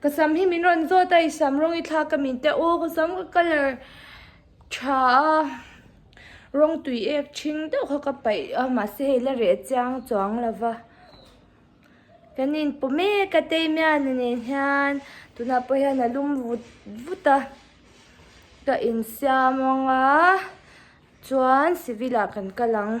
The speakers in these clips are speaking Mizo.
Ka sam hi min rawn zawt a, i sam rawng i thlak ka min te u, ka sam ka colour tha a, rawng tui ek chhing deuh kha ka paih a, mahse hei la reh chiang chuang lo va, kan inpawh mek a Teimiana nen hian tunah pawh hian a lum vut vut a, ka insiam anga chuan civil ah kan kal ang.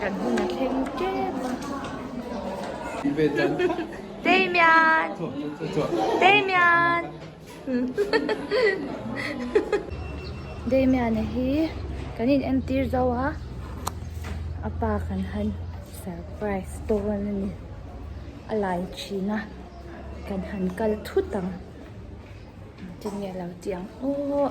kan hun a thleng tep a. Damian! Damian! Damian-a hi kan in entir zo a, a pa kan han surprise dawn a ni. A lai thin a, kan han kal thut ang. Tin nge lo tih ang aw.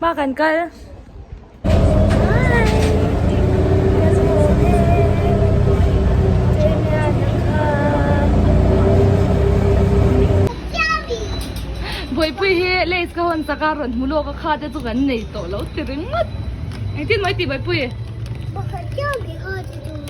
Ba kan kal. Boy pui hi leis ka hon saka ron mulo ka kha te chu kan nei to lo ti ring ngat. Engtin mai ti boy pui. Pakhat chiang ti kha ti tu.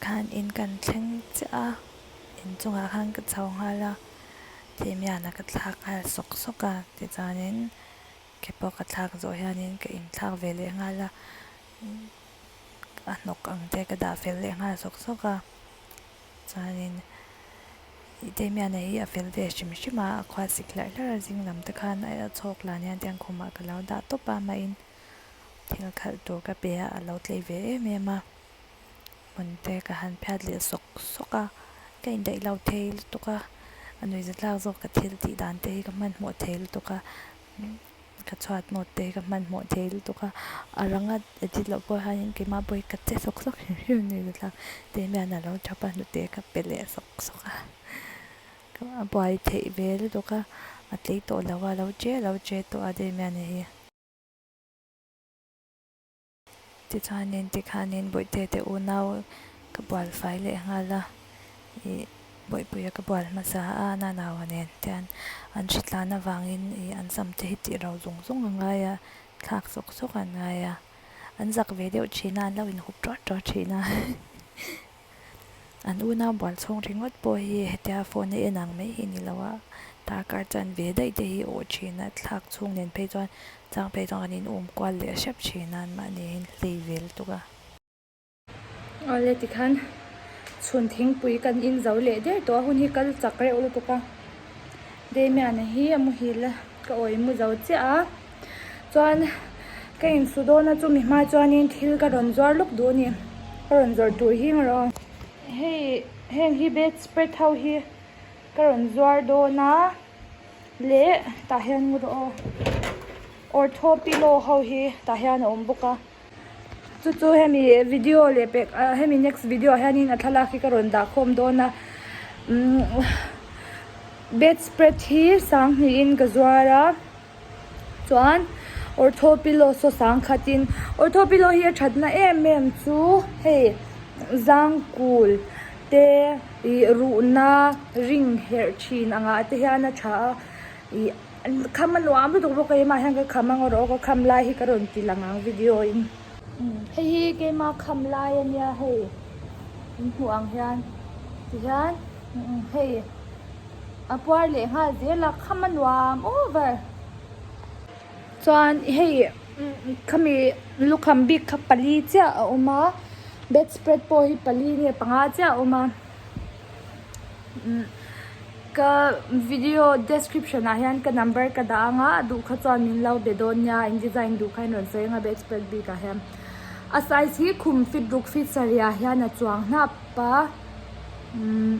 Khan in kan thleng chiah a, in chungah khan ka chho nghal a, Thimiana ka thlak nghal sawk sawk a ti chuan in ke pawh ka thlak zawh hian in ka in thlak ve leh nghal a, a hnawk ang te ka dah fel leh nghal sawk sawk a, chuan in i Thimiana hi a fel ve hrim hrim a, a khuasik hlarh hlarh a, zing lam te khan a chhawk lan hian tiang khumah ka lo dah tawp a mah in. Thil khalh tur ka pe a, a lo tlei ve em em a, hmun te ka han phiat leh sawk sawk a, ka indaih lo thei lutuk a, a nui zatlak zawk ka thil tih dan te hi ka hmanhmawh thei lutuk a, ka chhuat note te hi ka hmanhmawh thei lutuk a, a ranga edit loh pawh hian in keimah pawh hi ka che sawk sawk hrim hrim a, nui zatlak te hian in a lo thap a, hnute ka pe leh sawk sawk a, a buai theih ve lutuk a, a tlei tawh lo a, a lo che a lo che tawh a daihmia nei hi. Tichuanin tikhanin Bawihteteh u nau ka bual fai leh nghal a, i Bawipuia ka bual hmasa a nanau a nen tian an hri tlan avangin i an sam te hi tih rau zung zung a ngai a, thlak sawk sawk an ngai a, an zak ve deuh thin a, an lo inhup tuar tuar thin a. An una bual chhawng ringawt pawh hi hetia phone a en ang mai hi ni lo a, darkar chuan ve daih te hi a awh thin a, thlak chhung nen phei chuan chang phei chuan kan inawm kual leh hrep thin a, anmahni in hlei vel tuk a. Aw le tikhan chhun thingpui kan inzo leh der tawh a, hun hi kal chak reuh lutuk a, Damian-a hi a muhil a, ka awi muzo chiah a. chuan ka in su dawn a chumi hma chuanin thil ka rawn zuar lawk duh a ni ka rawn zawrh tur hi anga rawn hei heng hi bed spread ho hi ka rawn zuar dawn a leh tah hian ortho pillow ho hi tah hian a awm bawk a. Chu chu hemi video leh pek ah hemi next video ah hianin a thlalak hi ka rawn dah khawm dawn a. Umm bedspread hi sang hnihin ka zuar a, chuan ortho pillow saw sang khatin ortho pillow hi a thatna em em chu hei zangkul te ih ruhna ring herh thin angah te hian a tha a ih. Kham a nuam lutuk bawk a, mah hian ka kham a ngawrh aw, ka kham lai hi ka rawn ti lang ang video in. Hei hi keima kham lai a nia hei in hmuh ang hian ti hian hei a puar leh nghal zel a kham a nuam over. Chuan hei khami lukham bik kha pali chiah a awm a, bedspread pawh hi pali nge panga chiah a awm a. Ka video description ah hian ka number ka dah ang a, a duh kha chuan min lo be dawn nia, in design duh kha in rawn sawi anga be expert bik ah hian. A size hi khum fit ruk fit sarih ah hian a chuang hnap a, umm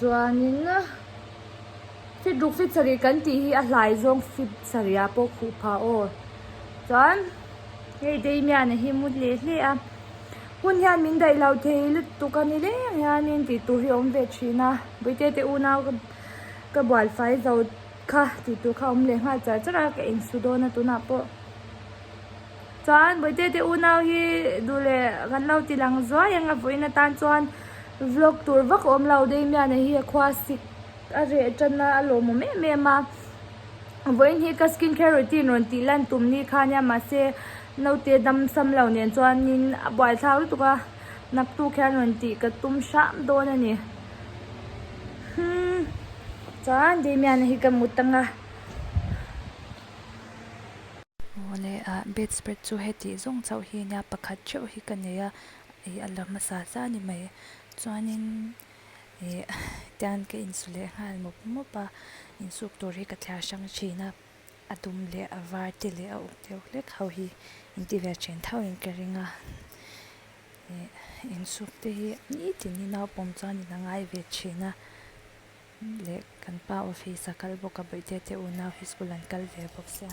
chuanin fit ruk fit sarih kan tih hi a hlai zawng fit sarih ah pawh khuh phah aw. Chuan hei daimian ah hi mut leh hle a. Hun hian min daih lo thei lutuk a ni le ang hianin tih tur hi a awm ve thin a. Buitete una ka bual fai zo kha tih tur kha a awm leh nghal char char a, ka insu dawn a tunah pawh. Chuan Buitete unau hi duh leh kan lo ti lang zuai ang a vawiin atan chuan vlog tur vak a awm lo. Damian-a hi a khua sik a reh tan a, a lawmawm em em a. Vawiin hi ka skin care routine rawn tih lan tum ni khan nia mahse, Naute dam sam lo nen chuanin a buaithlak lutuk a, naktuk hian rawn tih ka tum hram dawn a ni. Hum, chuan Damian-a hi ka hmu tang a. Aw le a, bedspread chu heti zawng chauh hi a nia, pakhat theuh hi ka nei a, ih a la hmasa zah ni mai. Chuanin ih tian ka insu leh nghal mawp mawp a, insuk tur hi ka thliar hrang thin a. A dum leh a var te leh a uk deuh hlek ho hi in ti ve a chen thau in ka ring a ih in suk te hi nitin i naupawm chuan in a ngai ve thin a leh kan pa office a kal bawk a bawihte te unau hi school an kal ve bawk sia.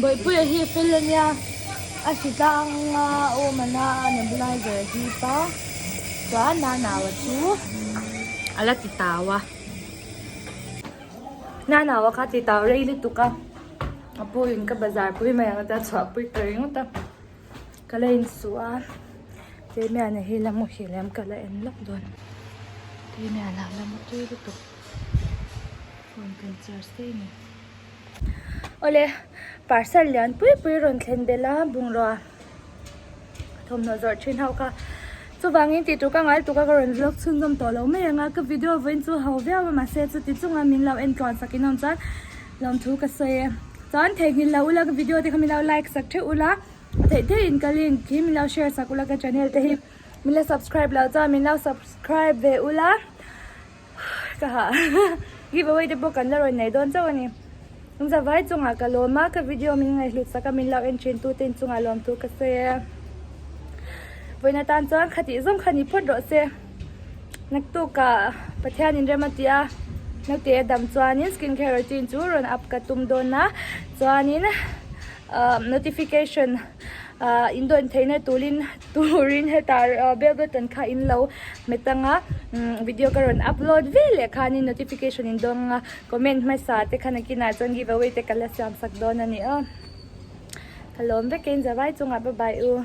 Bawipuia hi fel a nia, a hri tlanga awmana a nep lai zel hi pa tua Nanaua chu a la ti tau a. Nanaua kha ti tau rei lutuk a, Apuiin ka bazar pui mai ang a chuan a pui ka ringawt a. Ka la insuh a, Teimiana hi la mu hial em? Ka la en lawk dawn. Teimiana la mu tui lutuk. Phone kan charge daih ni. Awle, parcel lian pui pui rawn thlen belh a, bungraw a thawmhnaw zawrh thin ho kha. Chuvangin tih tur ka ngai tuk a, ka rawn vlog chhunzawm tawh lo mai ang a, ka video vawiin chu ho viau a mahse, chutichunga min lo entluan fakin a awm chuan, Hlawm thu ka sawi a. Chuan theihnghilh loh ula ka video te kha milo like sak theuh ula, a theih theih in ka link hi milo share sak ula ka channel te hi. Mila subscribe lo chuan milo subscribe ve ula ka ha giveaway te pawh kan la rawn nei dawn chauh a ni. Zawai chungah ka lawm a ka video min ngaihhlut sak a min lo en thin tu te in chungah lawm thu ka sawi a. Vawiin atan chuan khatih zawng kha ni phawt rawh se. Naktukah Pathian in rem a ti a, naute a dam chuanin skin care routine chu rawn up ka tum dawn a, chuanin notification indawn theihna turin turin heta bell button kha in lo hmet ang a, video ka rawn upload ve leh khanin notification in dawn ang a, comment hmasa te kha nakinah chuan give away te ka la siam sak dawn a ni aw. Ka lawm vekin zavai chungah bye bye u.